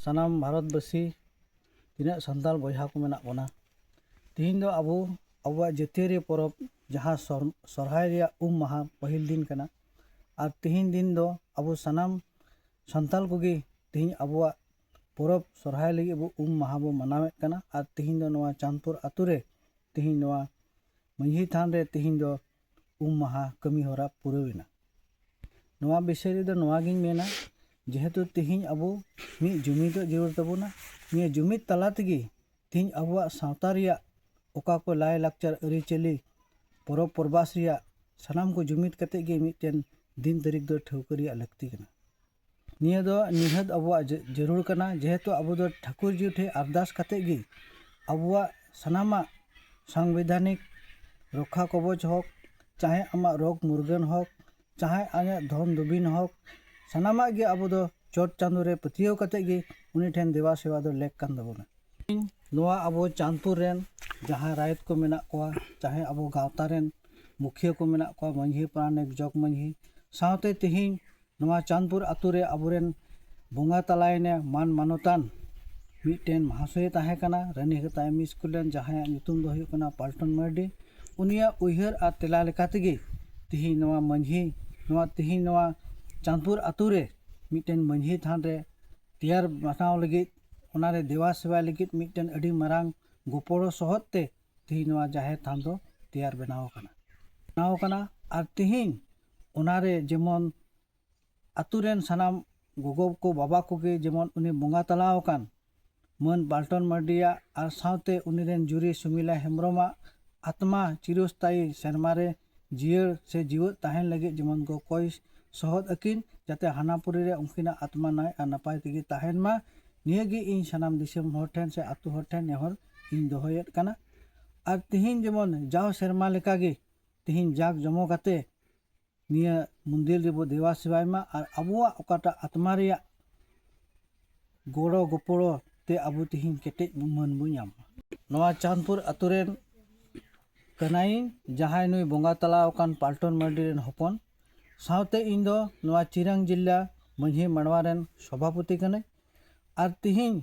ᱥᱟᱱᱟᱢ ᱵᱷᱟᱨᱚᱛ ᱵᱟᱹᱥᱤ ᱛᱤᱱᱟᱹᱜ ᱥᱟᱱᱛᱟᱲ ᱵᱚᱭᱦᱟ ᱠᱚ ᱢᱮᱱᱟᱜ ᱵᱚᱱᱟ ᱛᱮᱦᱮᱧ ᱫᱚ ᱟᱵᱚ ᱟᱵᱚᱣᱟᱜ ᱡᱟᱹᱛᱤᱭᱟᱹᱨᱤ ᱯᱚᱨᱚᱵᱽ ᱡᱟᱦᱟᱸ ᱥᱚᱨᱦᱟᱭ ᱨᱮᱭᱟᱜ ᱩᱢ ᱢᱟᱦᱟ ᱯᱟᱹᱦᱤᱞ ᱫᱤᱱ ᱠᱟᱱᱟ ᱟᱨ ᱛᱮᱦᱮᱧ ᱫᱤᱱ ᱫᱚ ᱟᱵᱚ ᱥᱟᱱᱟᱢ ᱥᱟᱱᱛᱟᱲ ᱠᱚᱜᱮ ᱛᱮᱦᱮᱧ ᱟᱵᱚᱣᱟᱜ ᱯᱚᱨᱚᱵᱽ ᱥᱚᱨᱦᱟᱭ ᱞᱟᱹᱜᱤᱫ ᱵᱚ ᱩᱢ ᱢᱟᱦᱟ ᱵᱚ ᱢᱟᱱᱟᱣᱮᱫ ᱠᱟᱱᱟ ᱟᱨ ᱛᱮᱦᱮᱧ ᱫᱚ ᱱᱚᱣᱟ ᱪᱟᱸᱫᱽᱯᱩᱨ ᱟᱹᱛᱩ ᱨᱮ ᱛᱮᱦᱮᱧ ᱱᱚᱣᱟ ᱢᱟᱹᱡᱷᱤ ᱛᱷᱟᱱ ᱨᱮ ᱛᱮᱦᱮᱧ ᱫᱚ ᱩᱢ ᱢᱟᱦᱟ ᱠᱟᱹᱢᱤ ᱦᱚᱨᱟ ᱯᱩᱨᱟᱹᱣ ᱮᱱᱟ ᱱᱚᱣᱟ ᱵᱤᱥᱚᱭ ᱨᱮᱫᱚ ᱱᱚᱣᱟ ᱜᱤᱧ ᱢᱮᱱᱟ ᱡᱮᱦᱮᱛᱩ ᱛᱤᱦᱤᱧ ᱟᱵᱚ ᱢᱤᱫ ᱡᱩᱢᱤᱫᱚᱜ ᱡᱟᱹᱨᱩᱲ ᱛᱟᱵᱚᱱᱟ ᱱᱤᱭᱟᱹ ᱡᱩᱢᱤᱫ ᱛᱟᱞᱟ ᱛᱮᱜᱮ ᱛᱤᱦᱤᱧ ᱟᱵᱚᱣᱟᱜ ᱥᱟᱶᱛᱟ ᱨᱮᱭᱟᱜ ᱚᱠᱟ ᱠᱚ ᱞᱟᱭ ᱞᱟᱠᱪᱟᱨ ᱟᱹᱨᱤᱪᱟᱹᱞᱤ ᱯᱚᱨᱚᱵᱽ ᱯᱚᱨᱵᱟᱥ ᱨᱮᱭᱟᱜ ᱥᱟᱱᱟᱢ ᱠᱚ ᱡᱩᱢᱤᱫ ᱠᱟᱛᱮ ᱜᱮ ᱢᱤᱫᱴᱮᱱ ᱫᱤᱱ ᱛᱟᱹᱨᱤᱠᱷ ᱫᱚ ᱴᱷᱟᱹᱣᱠᱟᱹ ᱨᱮᱭᱟᱜ ᱞᱟᱹᱠᱛᱤ ᱠᱟᱱᱟ ᱱᱤᱭᱟᱹ ᱫᱚ ᱱᱤᱦᱟᱹᱛ ᱟᱵᱚᱣᱟᱜ ᱡᱟᱹᱨᱩᱲ ᱠᱟᱱᱟ ᱡᱮᱦᱮᱛᱩ ᱟᱵᱚ ᱫᱚ ᱴᱷᱟᱹᱠᱩᱨ ᱡᱤᱭᱩ ᱴᱷᱮᱱ ᱟᱨᱫᱟᱥ ᱠᱟᱛᱮᱫ ᱜᱮ ᱟᱵᱚᱣᱟᱜ ᱥᱟᱱᱟᱢᱟᱜ ᱥᱟᱝᱵᱤᱫᱷᱟᱱᱤᱠ ᱨᱚᱠᱠᱷᱟ ᱠᱚᱵᱚᱪ ᱦᱳᱠ ᱪᱟᱦᱮ ᱟᱢᱟᱜ ᱨᱳᱜᱽ ᱢᱩᱨᱜᱟᱹᱱ ᱦᱳᱠ ᱪᱟᱦᱮ ᱟᱢᱟᱜ ᱫᱷᱚᱱ ᱫᱩᱵᱤᱱ ᱦᱳᱠ ᱥᱟᱱᱟᱢᱟᱜ ᱜᱮ ᱟᱵᱚ ᱫᱚ ᱪᱚᱴ ᱪᱟᱸᱫᱳ ᱨᱮ ᱯᱟᱹᱛᱭᱟᱹᱣ ᱠᱟᱛᱮᱫ ᱜᱮ ᱩᱱᱤ ᱴᱷᱮᱱ ᱫᱮᱵᱟ ᱥᱮᱵᱟ ᱫᱚ ᱞᱮᱠ ᱠᱟᱱ ᱛᱟᱵᱚᱱᱟ ᱤᱧ ᱱᱚᱣᱟ ᱟᱵᱚ ᱪᱟᱸᱫᱽᱯᱩᱨ ᱨᱮᱱ ᱡᱟᱦᱟᱸᱭ ᱨᱟᱭᱚᱛ ᱠᱚ ᱢᱮᱱᱟᱜ ᱠᱚᱣᱟ ᱪᱟᱦᱮ ᱟᱵᱚ ᱜᱟᱶᱛᱟ ᱨᱮᱱ ᱢᱩᱠᱷᱤᱭᱟᱹ ᱠᱚ ᱢᱮᱱᱟᱜ ᱠᱚᱣᱟ ᱢᱟᱹᱡᱷᱤ ᱯᱟᱨᱟᱱᱤᱠ ᱡᱚᱜᱽ ᱢᱟᱹᱡᱷᱤ ᱥᱟᱶᱛᱮ ᱛᱮᱦᱮᱧ ᱱᱚᱣᱟ ᱪᱟᱸᱫᱽᱯᱩᱨ ᱟᱹᱛᱩ ᱨᱮ ᱟᱵᱚ ᱨᱮᱱ ᱵᱚᱸᱜᱟ ᱛᱟᱞᱟᱭᱮᱱᱮ ᱢᱟᱱ ᱢᱟᱱᱚᱛᱟᱱ ᱢᱤᱫᱴᱮᱱ ᱢᱟᱦᱟᱥᱚᱭᱮ ᱛᱟᱦᱮᱸ ᱠᱟᱱᱟ ᱨᱟᱹᱱᱤ ᱦᱟᱹᱛᱟᱜ ᱮᱢ ᱤ ᱥᱠᱩᱞ ᱨᱮᱱ ᱡᱟᱦᱟᱸᱭᱟᱜ ᱧᱩᱛᱩᱢ ᱫᱚ ᱦᱩᱭᱩᱜ ᱠᱟᱱᱟ ᱯᱟᱞᱴᱚᱱ ᱢᱟᱨᱰᱤ ᱩᱱᱤᱭᱟᱜ ᱩᱭᱦᱟᱹᱨ ᱟᱨ ᱛᱮᱞᱟ ᱞᱮᱠᱟ ᱛᱮᱜᱮ ᱛᱤᱦᱤᱧ ᱱᱚᱣᱟ ᱢᱟᱹᱡᱷᱤ ᱱᱚᱣᱟ ᱛᱤᱦᱤᱧ ᱱᱚᱣᱟ ᱪᱟᱸᱫᱽᱯᱩᱨ ᱟᱹᱛᱩ ᱨᱮ ᱢᱤᱫᱴᱮᱱ ᱢᱟᱹᱡᱷᱤ ᱛᱷᱟᱱ ᱨᱮ ᱛᱮᱭᱟᱨ ᱵᱟᱱᱟᱣ ᱞᱟᱹᱜᱤᱫ ᱚᱱᱟ ᱨᱮ ᱫᱮᱵᱟ ᱥᱮᱵᱟᱭ ᱞᱟᱹᱜᱤᱫ ᱢᱤᱫᱴᱮᱱ ᱟᱹᱰᱤ ᱢᱟᱨᱟᱝ ᱜᱚᱯᱚᱲᱚ ᱥᱚᱦᱚᱫ ᱛᱮ ᱛᱤᱦᱤᱧ ᱱᱚᱣᱟ ᱡᱟᱦᱮᱨ ᱛᱷᱟᱱ ᱫᱚ ᱛᱮᱭᱟᱨ ᱵᱮᱱᱟᱣ ᱠᱟᱱᱟ ᱵᱮᱱᱟᱣ ᱠᱟᱱᱟ ᱟᱨ ᱛᱤᱦᱤᱧ ᱚᱱᱟᱨᱮ ᱡᱮᱢᱚᱱ ᱟᱛᱳ ᱨᱮᱱ ᱥᱟᱱᱟᱢ ᱜᱚᱜᱚ ᱠᱚ ᱵᱟᱵᱟ ᱠᱚᱜᱮ ᱡᱮᱢᱚᱱ ᱩᱱᱤ ᱵᱚᱸᱜᱟ ᱛᱟᱞᱟ ᱟᱠᱟᱱ ᱢᱟᱹᱱ ᱵᱟᱞᱴᱚᱱ ᱢᱟᱨᱰᱤᱭᱟᱜ ᱟᱨ ᱥᱟᱶᱛᱮ ᱩᱱᱤ ᱨᱮᱱ ᱡᱩᱨᱤ ᱥᱩᱢᱤᱞᱟ ᱦᱮᱢᱵᱨᱚᱢᱟᱜ ᱟᱛᱢᱟ ᱪᱤᱨᱚᱥᱛᱟᱭᱤ ᱥᱮᱨᱢᱟ ᱨᱮ ᱡᱤᱭᱟᱹᱲ ᱥᱮ ᱡᱤᱣᱮᱫ ᱛᱟᱦᱮᱱ ᱞᱟᱹᱜᱤᱫ ᱡᱮᱢᱚᱱ ᱠᱚ ᱠᱚᱭ ᱥᱚᱦᱚᱫ ᱟᱹᱠᱤᱱ ᱡᱟᱛᱮ ᱦᱟᱱᱟᱯᱩᱨᱤ ᱨᱮ ᱩᱱᱠᱤᱱᱟᱜ ᱟᱛᱢᱟ ᱱᱟᱭ ᱟᱨ ᱱᱟᱯᱟᱭ ᱛᱮᱜᱮ ᱛᱟᱦᱮᱱ ᱢᱟ ᱱᱤᱭᱟᱹ ᱜᱮ ᱤᱧ ᱥᱟᱱᱟᱢ ᱫᱤᱥᱚᱢ ᱦᱚᱲ ᱴᱷᱮᱱ ᱥᱮ ᱟᱛᱳ ᱦᱚᱲ ᱴᱷᱮᱱ ᱱᱮᱦᱚᱨ ᱤᱧ ᱫᱚᱦᱚᱭᱮᱫ ᱠᱟᱱᱟ ᱟᱨ ᱛᱤᱦᱤᱧ ᱡᱮᱢᱚᱱ ᱡᱟᱣ ᱥᱮᱨᱢᱟ ᱞᱮᱠᱟᱜᱮ ᱛᱮᱦᱮᱧ ᱡᱟᱠ ᱡᱚᱢᱚ ᱠᱟᱛᱮ ᱱᱤᱭᱟᱹ ᱢᱚᱱᱫᱤᱨ ᱨᱮᱵᱚ ᱫᱮᱵᱟ ᱥᱮᱵᱟᱭ ᱢᱟ ᱟᱨ ᱟᱵᱚᱣᱟᱜ ᱚᱠᱟᱴᱟᱜ ᱟᱛᱢᱟ ᱨᱮᱭᱟᱜ ᱜᱚᱲᱚ ᱜᱚᱯᱚᱲᱚ ᱛᱮ ᱟᱵᱚ ᱛᱮᱦᱮᱧ ᱠᱮᱴᱮᱡ ᱢᱟᱹᱱ ᱵᱚ ᱧᱟᱢ ᱢᱟ ᱱᱚᱣᱟ ᱪᱟᱸᱫᱽᱯᱩᱨ ᱟᱛᱳ ᱨᱮᱱ ᱠᱟᱹᱱᱟᱹᱧ ᱡᱟᱦᱟᱸᱭ ᱱᱩᱭ ᱵᱚᱸᱜᱟ ᱛᱟᱞᱟ ᱟᱠᱟᱱ ᱯᱟᱞᱴᱚᱱ ᱢᱟᱨᱰᱤ ᱨᱮᱱ ᱦᱚᱯᱚᱱ ᱥᱟᱶᱛᱮ ᱤᱧ ᱫᱚ ᱱᱚᱣᱟ ᱪᱤᱨᱟᱝ ᱡᱮᱞᱟ ᱢᱟᱹᱡᱷᱤ ᱢᱟᱰᱣᱟ ᱨᱮᱱ ᱥᱚᱵᱷᱟᱯᱚᱛᱤ ᱠᱟᱹᱱᱟᱹᱧ ᱟᱨ ᱛᱤᱦᱤᱧ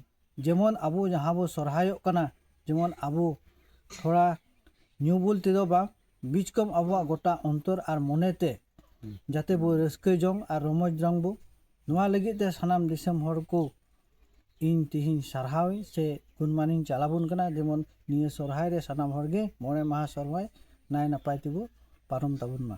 ᱡᱮᱢᱚᱱ ᱟᱵᱚ ᱡᱟᱦᱟᱸ ᱵᱚᱱ ᱥᱚᱦᱨᱟᱭᱚᱜ ᱠᱟᱱᱟ ᱡᱮᱢᱚᱱ ᱟᱵᱚ ᱛᱷᱚᱲᱟ ᱧᱩ ᱵᱩᱞ ᱛᱮᱫᱚ ᱵᱟᱝ ᱵᱤᱡᱽ ᱠᱚᱢ ᱟᱵᱚᱣᱟᱜ ᱜᱚᱴᱟ ᱚᱱᱛᱚᱨ ᱟᱨ ᱢᱚᱱᱮ ᱛᱮ ᱡᱟᱛᱮ ᱵᱚᱱ ᱨᱟᱹᱥᱠᱟᱹ ᱡᱚᱝ ᱟᱨ ᱨᱚᱢᱚᱡᱽ ᱡᱚᱝ ᱵᱚ ᱱᱚᱣᱟ ᱞᱟᱹᱜᱤᱫ ᱛᱮ ᱥᱟᱱᱟᱢ ᱫᱤᱥᱚᱢ ᱦᱚᱲ ᱠᱚ ᱤᱧ ᱛᱤᱦᱤᱧ ᱥᱟᱨᱦᱟᱣ ᱤᱧ ᱥᱮ ᱜᱩᱱ ᱢᱟᱱᱤᱧ ᱪᱟᱞ ᱟᱵᱚᱱ ᱠᱟᱱᱟ ᱡᱮᱢᱚᱱ ᱱᱤᱭᱟᱹ ᱥᱚᱦᱨᱟᱭ ᱨᱮ ᱥᱟᱱᱟᱢ ᱦᱚᱲ ᱜᱮ ᱢᱚᱬᱮ ᱢᱟᱦᱟ ᱥᱚᱦᱨᱟᱭ ᱱᱟᱭ ᱱᱟᱯᱟᱭ ᱛᱮᱵᱚ ᱯᱟᱨᱚᱢ ᱛᱟᱵᱚᱱ ᱢᱟ